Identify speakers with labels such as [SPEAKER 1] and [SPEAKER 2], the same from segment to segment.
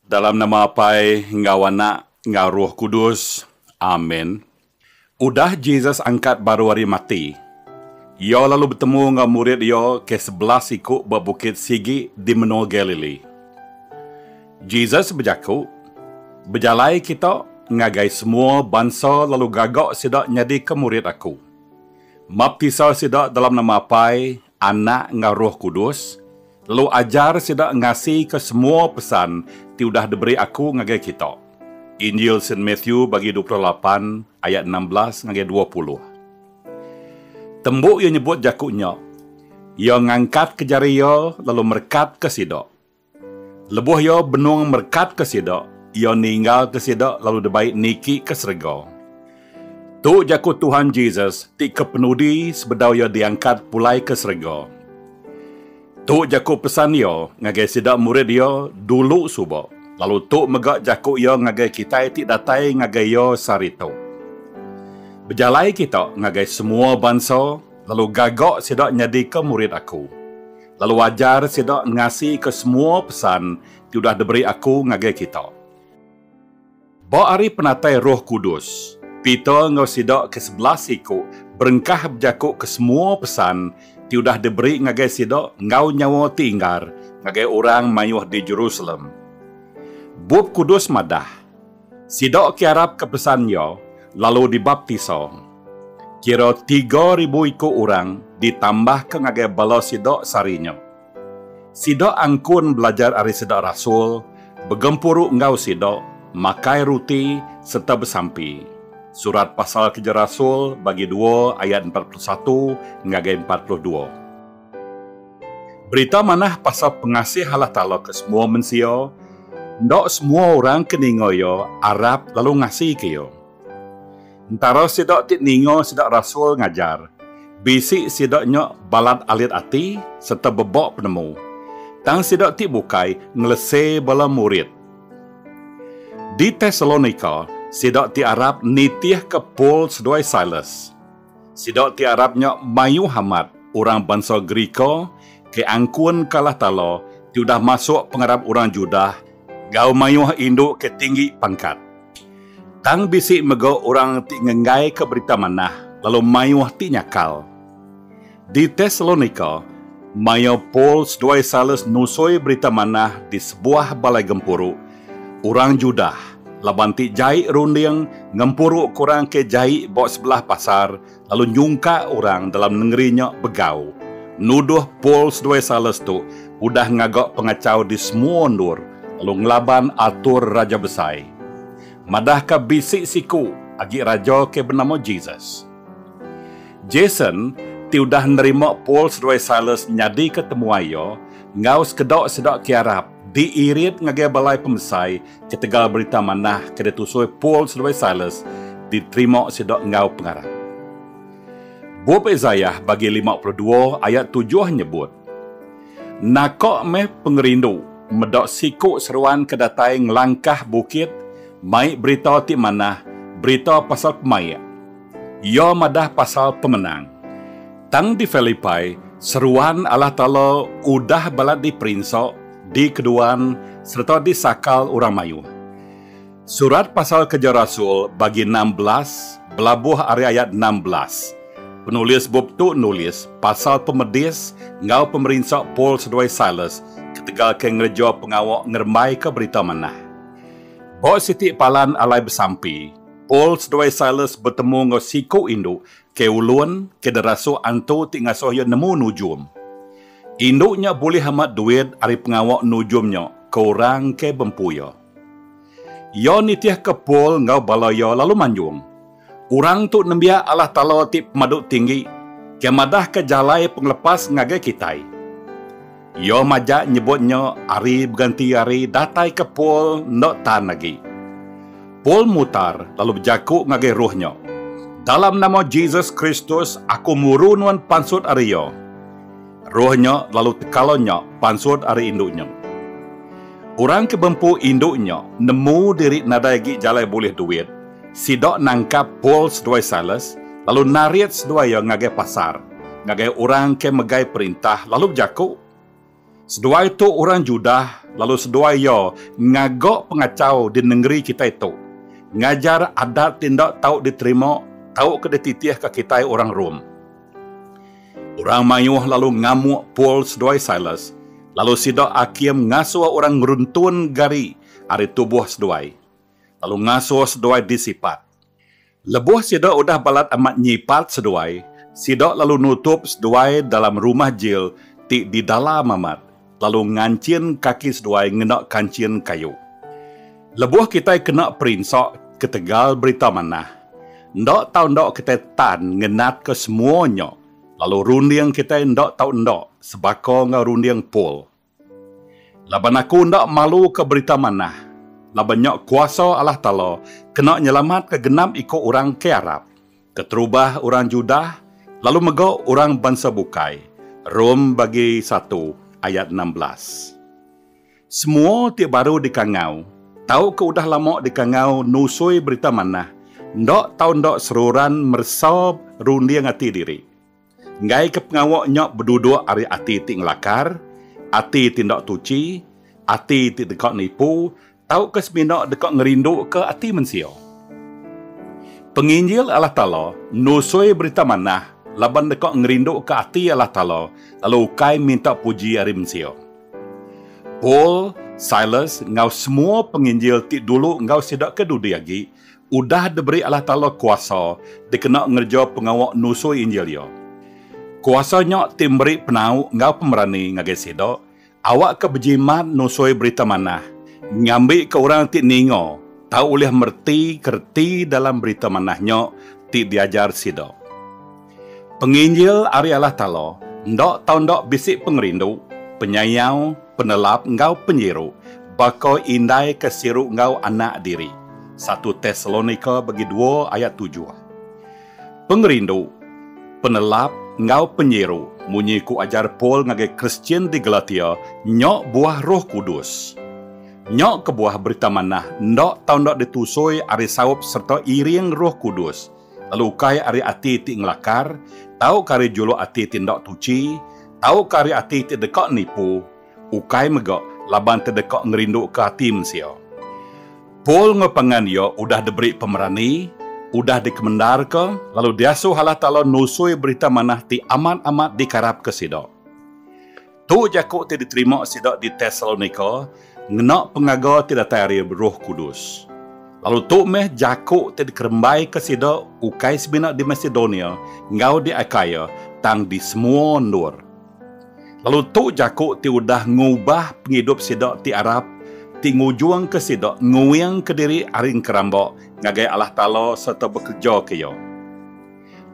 [SPEAKER 1] Dalam nama Apai enggau Anak enggau Roh Kudus. Amen. Udah Jesus angkat baru ari mati, Iya lalu betemu enggau murid Iya ke sebelas iku ba bukit sigi di menua Galilee. Jesus bejaku, Bejalai kita ngagai semua bansa lalu gaga sida nyadika murid Aku. Maptisa sida dalam nama Apai, Anak enggau Roh Kudus, lalu ajar sida ngasika semua pesan ti udah diberi aku ngagai kita. Injil Saint Matthew bagi dua puluh lapan ayat enam belas ngagai dua puluh. Tembu iya nyebut jaku nya, iya ngangkatka jari iya lalu merekatka sida. Lebuh iya benung merekatka sida, iya ninggalka sida lalu dibai niki ke serega. Tu jaku Tuhan Jesus ti kepenudi sebedau iya diangkat pulai ke serega. Tu jaku pesan iya ngagai sida murid iya dulu suba, lalu tu mega jaku iya ngagai kitai ti datai ngagai iya sehari tu. Bejalai kita ngagai semua bansa, lalu gaga sida nyadika murid aku. Lalu wajar sida ngasika semua pesan ti udah diberi aku ngagai kita. Ba ari penatai Roh Kudus, Peter enggau sida ke sebelas iku berengkah bejakuka semua pesan ti udah diberi ngagai sida enggau nyawa ti inggar ngagai orang mayuh di Jerusalem. Bup Kudus madah, Sida ke arap ke pesan iya lalu dibaptisa. Kira tiga ribu iku orang ditambahka ngagai bala sida sehari nya. Sida angkun belajar ari sida rasul, begempuru enggau sida, makai ruti, sereta besampi. Surat Pasal Kereja Rasul bagi dua ayat empat puluh satu ngagai empat puluh dua. Berita manah pasal pengasih Allah Taala ke semua mensia, enda semua orang ke ninga iya arap lalu ngasika iya. Entara sida ti ninga sida rasul ngajar, bisi sida nya balat alit ati sereta bebak penemu, tang sida ti bukai ngelese bala murid. Di Tesalonika, sida ti arap nitihka Paul seduai Silas. Sida ti arap nya mayuh amat orang bansa Gerika ke angkun ke alah tala ti udah masuk pengarap orang Judah enggau mayuh indu ke tinggi pangkat. Tang bisi mega orang ti ngenggaika Berita Manah lalu mayuh ti nyakal. Di Tesalonika, maya Paul seduai Silas nusoi Berita Manah di sebuah balai gempuru, orang Judah laban ti jai runding ngempuruka orang ke jai ba sebelah pasar lalu nyungka orang dalam nengeri nya begau nuduh Paul seduai Silas tu udah ngaga pengachau di semua endur lalu ngelaban atur raja besai madahka bisi siku agi raja ke benama Jesus. Jason, ti udah nerima Paul seduai Silas nyadika temuai iya, enggau sekeda sida ke arap, diirit ngagai balai pemesai ketegal berita manah ke ditusui Paul seduai Silas diterima sida enggau pengarap. Bup Isaiah bagi lima puluh dua ayat tujuh nyebut, Naka meh pengerindu meda siku seruan ke datai ngelangkah bukit mai berita ti manah berita pasal pemaik. Iya madah pasal pemenang. Tang di Filipai, seruan Allah Taala udah balat diperinsa, dikeduan, sereta disakal orang mayuh. Surat pasal Kereja Rasul bagi enam belas belabuh ari ayat enam belas. Penulis bup tu nulis pasal pemedis enggau pemerinsa Paul seduai Silas ketegal ke ngereja pengawa ngerembaika Berita Manah. Ba siti palan alai besampi, Paul seduai Silas betemu enggau siku indu ke ulun ke derasuk antu ti ngasuh iya nemu nujum. Indu nya bulih amat duit ari pengawa nujum nya ke orang ke bempu iya. Iya nitihka Paul enggau bala iya lalu manjung. Orang tu nembiak Allah Taala ti pemadu tinggi ke madahka jalai pengelepas ngagai kitai. Iya majak nyebut nya ari beganti ari dataika Paul enda tan agi. Paul mutar lalu bejaku ngagai roh nya, Dalam nama Jesus Kristus aku muru nuan pansut ari iya. Roh nya lalu tekala nya pansut ari indu nya. Orang ke bempu indu nya nemu diri nadai agi jalai bulih duit, sida nangkap Paul seduai Silas lalu narit seduai iya ngagai pasar ngagai orang ke megai perintah lalu bejaku, Seduai tu orang Judah lalu seduai iya ngaga pengachau di nengeri kitai tu, ngajar adat ti enda tau diterima tauka dititihka kitai orang Rome. Orang mayuh lalu ngamuk Paul seduai Silas, lalu sida akim ngasuh orang ngeruntun gari ari tubuh seduai, lalu ngasuh seduai disipat. Lebuh sida udah balat amat nyipat seduai, sida lalu nutup seduai dalam rumah jil ti didalam amat. lalu nganchin kaki seduai ngena kanchin kayu. Lebuh kitai kena perinsa ketegal Berita Manah, enda tau enda kitai tan ngenatka semua nya lalu runding kitai enda tau enda sebaka enggau runding Paul. Laban aku enda maluka Berita Manah, laban nya kuasa Allah Taala kena nyelamatka genap iku orang ke arap. Keterubah orang Judah lalu mega orang bansa bukai, Rom bagi satu ayat enam belas. Semua ti baru dikangau tauka udah lama dikangau nusui Berita Manah enda tau enda seruran meresa runding ati diri. Enggaika pengawa nya beduduk ari ati ti ngelakar, ati ti enda tuchi, ati ti deka nipu tauka semina deka ngerinduka ati mensia. Penginjil Allah Taala nusui Berita Manah laban deka ngerinduka ati Allah Taala lalu ukai minta puji ari mensia. Paul, Silas enggau semua penginjil ti dulu enggau sida ke dudi agi, Udah diberi Allah Taala kuasa dikena ngereja pengawa nusui Injil Iya. Kuasa nya ti meri penau enggau pemerani ngagai sida awakka bejimat nusui Berita Manah ngambika orang ti ninga tau ulih mereti ke reti dalam Berita Manah nya ti diajar sida. Penginjil ari Allah Taala enda tau enda bisi pengerindu, penyayau, penelap enggau penyiru baka indai ke siru enggau anak diri, satu Tesalonika bagi dua ayat tujuh. Pengerindu, penelap enggau penyiru munyi ku ajar Paul ngagai Kristian di Galatia nya buah Roh Kudus. Nya kebuah Berita Manah enda tau enda ditusui ari saup sereta iring Roh Kudus. lalu ukai ari ati ti ngelakar, tauka ari juluk ati ti enda tuchi, tauka ari ati ti deka nipu, ukai mega laban ti deka ngerinduka ati mensia. Paul enggau pangan iya udah diberi pemerani, udah dikemendarka, lalu diasuh Allah Taala nusui Berita Manah ti amat-amat dikarapka sida. Tu jaku ti diterima sida di Tesalonika ngena pengaga ti datai ari Roh Kudus. Lalu tu meh jaku ti dikerembaika sida ukai semina di Masedonia enggau di Akaia, tang di semua endur. Lalu tu jaku ti udah ngubah pengidup sida ti arap, ti ngujungka sida nguingka diri ari engkeramba ngagai Allah Taala sereta bekerejaka Iya.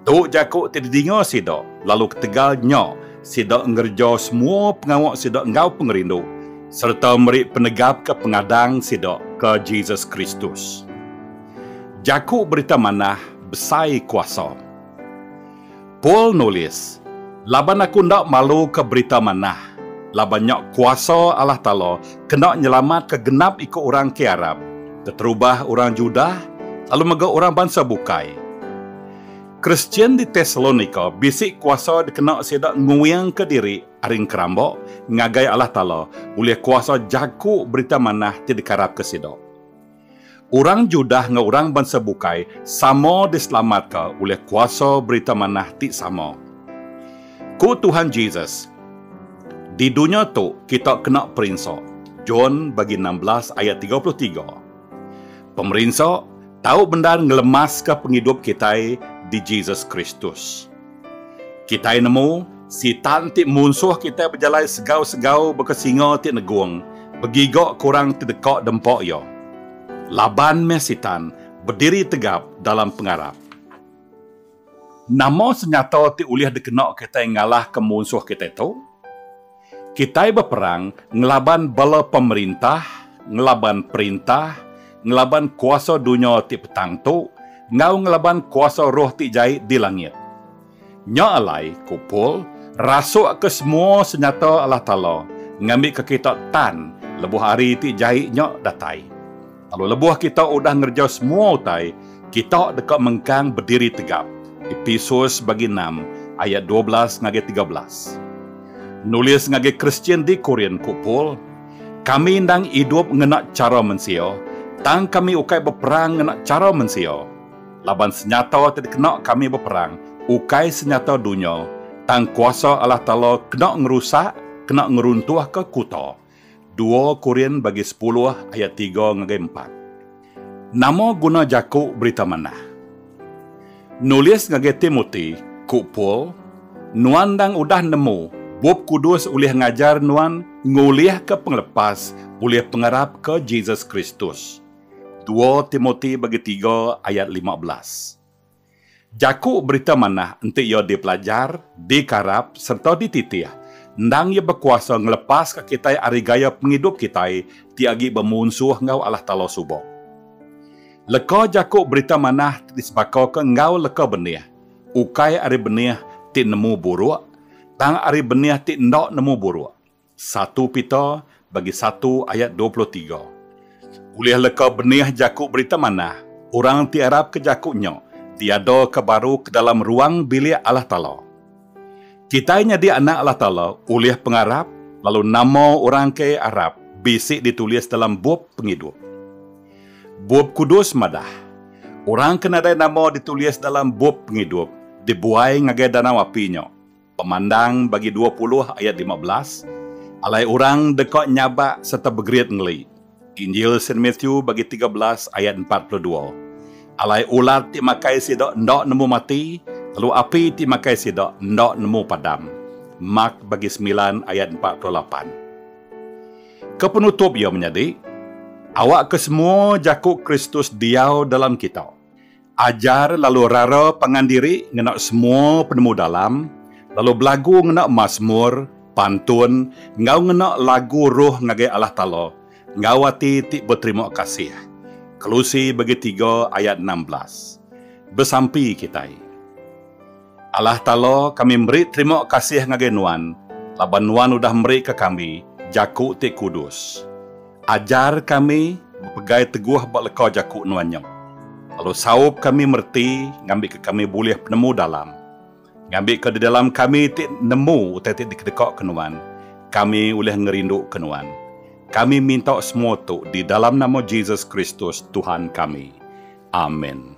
[SPEAKER 1] Tu jaku ti didinga sida, lalu ketegal nya sida ngereja semua pengawa sida enggau pengerindu, sereta meri penegapka pengadang sida ke Jesus Kristus. Jaku Berita Manah Besai Kuasa. Paul nulis, Laban aku enda maluka berita manah, laban nya kuasa Allah Taala kena nyelamatka genap iku orang ke Arab, keterubah orang Judah, lalu mega orang bansa bukai. Kristian di Tesalonika bisi kuasa dikena sida nguingka diri ari ngeramba ngagai Allah Taala ulih kuasa jaku Berita Manah ti dikearapka sida. Orang Judah enggau orang bansa bukai sama diselamatka ulih kuasa Berita Manah ti sama. Ku Tuhan Jesus, Di dunya tu kita kena perinsa, John bagi enam belas ayat tiga puluh tiga. Pemerinsa tau bendar ngelemaska pengidup kitai di Jesus Kristus. Kitai nemu, Sitan ti munsuh kitai bejalai segau-segau baka singa ti negung, begiga ke orang ti deka dempa iya. Laban meh Sitan bediri tegap dalam pengarap. Nama senyata ti ulih dikena kitai ngalahka munsuh kitai tu? Kitai beperang ngelaban bala pemerintah, ngelaban perintah, ngelaban kuasa dunya ti petang tu, enggau ngelaban kuasa roh ti jai di langit. Nya alai, ku Paul, rasukka semua senyata Allah Taala ngambika kita tan lebuh hari ti jai nya datai. Lalu lebuh kita udah ngerejau semua utai, kita deka mengkang bediri tegap. Epesus bagi enam ayat dua belas ngagai tiga belas. Nulis ngagai Kristian di Korin ku Paul, Kami endang idup ngena chara mensia, tang kami ukai beperang ngena chara mensia. Laban senyata ti dikena kami beperang ukai senyata dunya, tang kuasa Allah Taala kena ngerusak, kena ngeruntuhka kuta, Dua Korin bagi sepuluh ayat tiga ngagai empat. Nama guna jaku berita manah? Nulis ngagai Timoti, ku Paul, Nuan endang udah nemu Bup Kudus ulih ngajar nuan ngulihka pengelepas ulih pengarap ke Jesus Kristus. Dua Timoti bagi tiga ayat lima belas. Jaku Berita Manah enti iya dipelajar, dikarap, sereta dititih, endang iya bekuasa ngelepaska kitai ari gaya pengidup kitai ti agi bemunsuh enggau Allah Taala suba. Leka Jaku Berita Manah ti disebakaka enggau leka benih, ukai ari benih ti nemu buruk, tang ari benih ti enda nemu buruk. Satu Pita bagi satu ayat dua puluh tiga. Ulih leka benih jaku Berita Manah orang ti arapka jaku nya diadaka baru ke dalam ruang bilik Allah Taala. Kitai nyadi anak Allah Taala ulih pengarap lalu nama orang ke arap bisi ditulis dalam Bup Pengidup. Bup Kudus madah, orang ke nadai nama ditulis dalam Bup Pengidup dibuai ngagai danau api nya. Pemandang bagi dua puluh ayat lima belas, Alai orang deka nyabak sereta begerit ngeli. Injil Saint Matthew bagi tiga belas ayat empat puluh dua, Alai ular ti makai sida enda nemu mati, lalu api ti makai sida enda nemu padam. Mark bagi semilan ayat empat puluh lapan. Ke penutup iya menyadi, Awakka semua jaku Kristus diau dalam kita. Ajar lalu rara pangan diri ngena semua penemu dalam, lalu belagu ngena masmur, pantun, enggau ngena lagu roh ngagai Allah Taala enggau ati ti beterima kasih. Kolose bagi tiga ayat enam belas. Besampi kitai. Allah Taala, kami meri terima kasih ngagai Nuan laban Nuan udah meri ka kami Jaku ti kudus. Ajar kami bepegai teguh ba leka Jaku Nuan nya, lalu saup kami mereti ngambi ka kami bulih penemu dalam. Ngambi ka di dalam kami ti nemu utai ti dikedeka ka Nuan, kami ulih ngerindu ka Nuan. Kami minta semua tu di dalam nama Jesus Kristus, Tuhan kami. Amin.